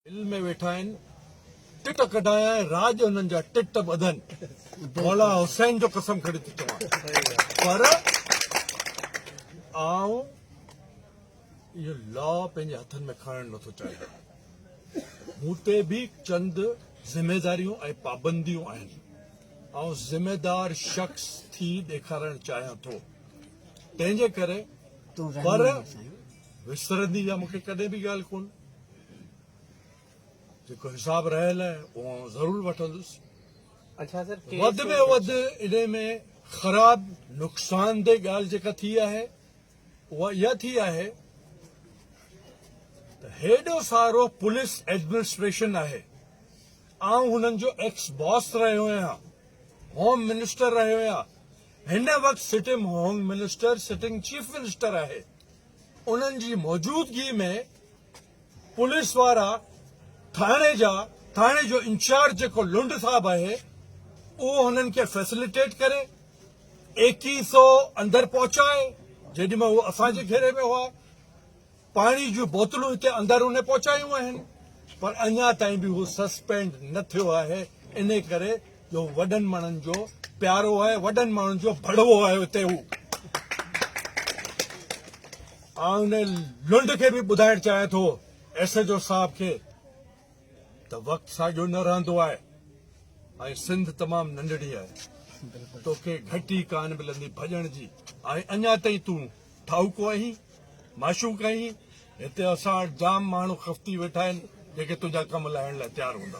دل ۾ ويٺا آهن ٽٽ ڪڍايائين راڄ هنن جا ٽٽ ٻڌن مولا حسين جو قسم کڻي ٿو چوان پر آئون اهو لا پنهنجي هٿن ۾ کڻڻ نٿو چاهيان مون تي به چند ذميواريون ۽ پابنديون آهن آئون ذميوار شخص ٿي ڏيکارڻ چاهيان ٿو تنهنجي ڪري پر وسرندي يا مونکي ڪڏهن به ڳالهه ڪون جيڪو حساب رهيل اهو آئون ضرور وٺندس. وڌ ۾ وڌ انهي ۾ خراب نقصاندهه ڳالهه جيڪا ٿي آهي اها اها ٿي آهي ته هيڏو سارو پوليس ايڊمنسٽريشن آهي آئون هنن جو ايڪس باس رهيو آهيان هوم منسٽر رهيو آهيان هن وقت sitting home minister sitting chief minister آهي انهن جي موجودگي ۾ پوليس وارا ٿاڻي جا ٿاڻي جو انچارج جيڪو لنڊ صاحب آهي اهو هنن کي فيسليٽيٽ ڪري ايڪي سو اندر پهچائي جيڏي مهل هو اسان جي گهيري ۾ هئا پاڻي جون بوتلون هتي اندر ان پهچايون آهن پر اڃا تائين به هو سسپينڊ نه ٿيو آهي ان ڪري جو وڏن ماڻهن جو پيارو آهي وڏن ماڻهن جو ڀڙوو آهي اتي هو آن ان لنڊ کي به ٻڌائڻ چاهيان ٿو ايس ايچ او صاحب کي ته وقت ساڳيو نه رهندو آهي ۽ سنڌ تمام ننڍڙي آهي توکي گهٽي ڪان ملندي ڀڄڻ جي ۽ اڃا تائين تون ٺاهوڪو آهين معشوق آهين هتي اسان وٽ جام ماڻهو خفتي ويٺا آهن جيڪي تنهنجا ڪم لاهڻ لاء تيار هوندا